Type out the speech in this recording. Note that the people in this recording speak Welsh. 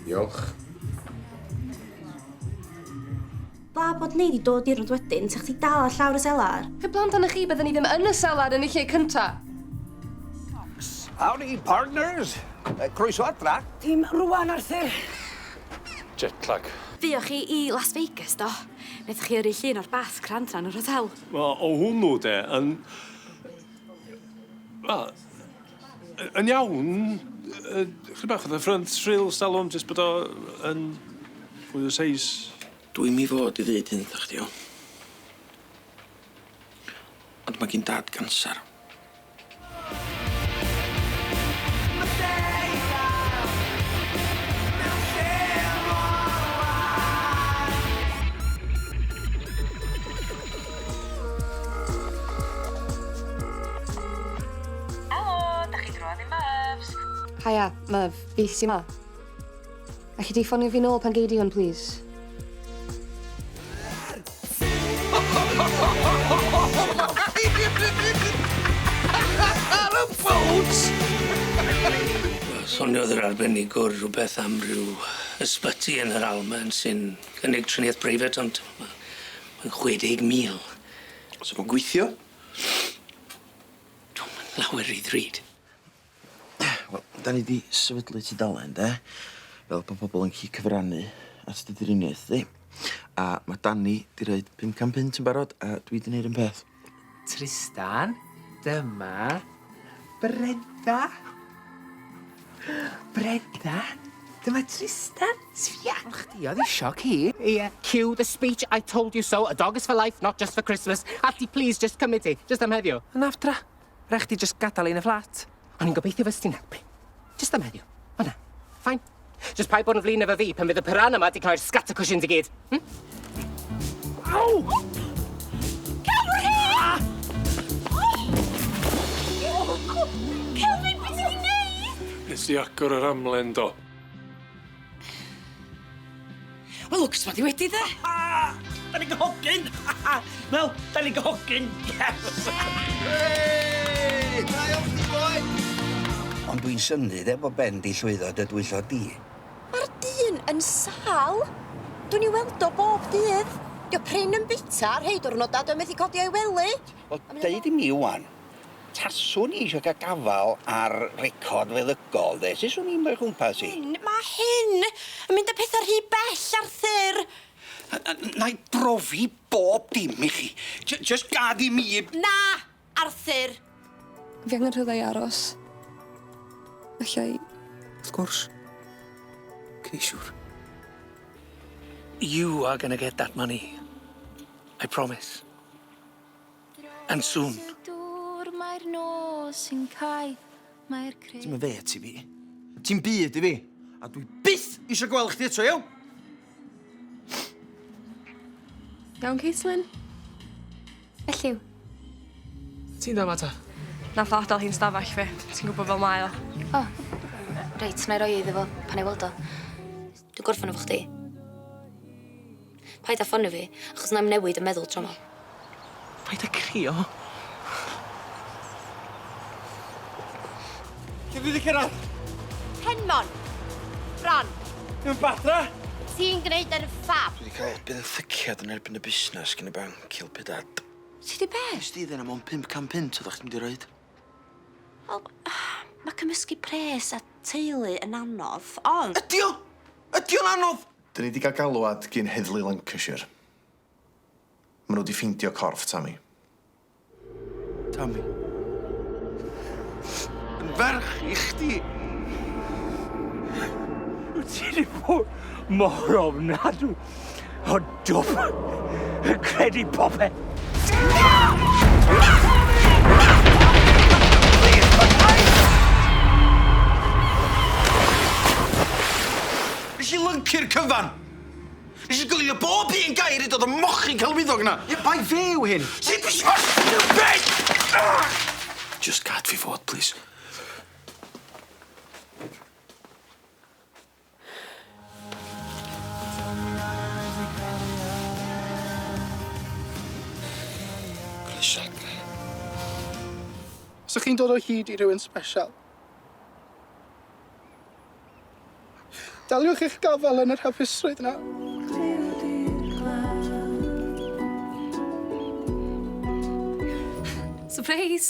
Diolch. Dda bod ni 'di dod i'r rwd wedyn, 'sa chdi dal ar llawr y selar. Heblaw amdana chi bydden ni ddim yn y selar yn y lle cynta. Howdy partners! Croeso adra. Dim rwan Arthur. Jet lag. Fuoch chi i Las Vegas do? Naethoch chi yrru llun o'r bath crand 'na yn yr hotel. Wel o hwnnw de yn wel Yy yn iawn yy chydig bach fatha front rail stalwm jyst bod o yn fwy o seis. Dwi'm i fod i ddeud hyn 'tha chdi iawn? Ond ma' gin dad canser. Helo, da chi drwodd i Myfs? Haia, Myf, fi sy 'ma. Alli di ffonio fi nôl pan gei di hwn, plîs? Ar y ffowc! Soniodd yr arbenigwr rhywbeth am ryw ysbyty yn yr Almaen sy'n cynnig triniaeth breifat ond Mae'n chwe deg mil. Sa fo'n gweithio? Dw i'm yn lawer rhy ddrud. Wel, 'dan ni 'di sefydlu tudalen, 'de? Fel bo' pobol yn gallu cyfrannu at dy driniaeth di. A ma' Dani 'di roid pum can punt yn barod, a dwi 'di neud 'r un peth. Trystan, dyma Brenda. Brenda, dyma Trystan. Sbia arno chdi, oedd isio ci. Ie. Cue the speech I told you so, a dog is for life, not just for Christmas. Alti, please, just cymryd ti, just am heddiw. Yn aftra. Rhaid chdi just gadael i yn y fflat. O'n i'n gobeithio fyst ti'n helpu. Jyst am heddiw. O na. Fine. Jyst paid bod yn flin efo fi pan fydd y piranha yma di cau'r scatter cushions i gyd. Hmm? Au! Cymru! Ah! Kelvin, beth ti'n neud? Nes i agor yr amlen do. Wel, lwc sbod i wedi, de? Da ni'n gyhogyn! Wel, da ni'n gyhogyn! Yes! Hei! Da iawn chdi, boi! Ond dwi'n synnu, de, bod Ben di llwyddo dy dwyllo di. Mae'r dyn yn sâl! Dwi'n i weld o bob dydd. Dio prin yn bita, rhei diwrnodau dwi methu codi o'i wely. Wel, deud i mi ŵan, Taswn i eisiau cael gafael ar record feddygol de, sut swn i'n rhoi cwmpas i? Hyn, mae hyn yn mynd â pethau rhy bell, Arthur! Wna i brofi bob dim i chi. J- jyst gad i mi... Na, Arthur! Fi angen rhywle i aros. Alla i... Wrth gwrs. Ceisiwr. You are gonna get that money. I promise. And soon. Ti'm yn fêt i fi. Ti'm byd i fi. A dwi byth isio gweld chdi eto, iawn? Iawn, Caitlin? Elliw? Ti'n dda ma ta? Nath o adal hi'n stafell fi. Ti'n gwybod fel mae o. O. Reit, na i roi e iddo fo pan 'nai weld o. Dw gorffan efo chdi. Paid a ffonio fi, achos nai'm newid yn meddwl tro 'ma. Paid a crio. Lle dwi 'di cyrradd? Penmon. Bron. Dwi yn Bathra! Ti'n gneud yn ffab. Dwi 'di ca'l benthyciad yn erbyn y busnes gin y banc i elpu dad. Ti 'di be'? Nes di ddeud na mond pump can punt oddach chdi mynd i roid. Wel, ma' cymysgu pres a teulu yn anodd, ond... Ydi o! Ydi o'n anodd? Dyn ni 'di ga'l galwad gin Heddlu Lancashire. Ma' nhw 'di ffeindio corff Tammy. Tammy. Yn ferch i chdi. Wyt ti 'di bod mor ofnadw! O dwp! Yn credu popeth! Nes i lyncu'r cyfan! Nes i goelio bob un gair i dod o mochyn celwyddog na! Ie, bai fe yw hyn! Ti'n pissio Just gad fi fod, plîs. Os o'ch chi'n dod o hyd i rywun sbesial, daliwch eich gafael yn yr hapusrwydd 'na. Sypreis!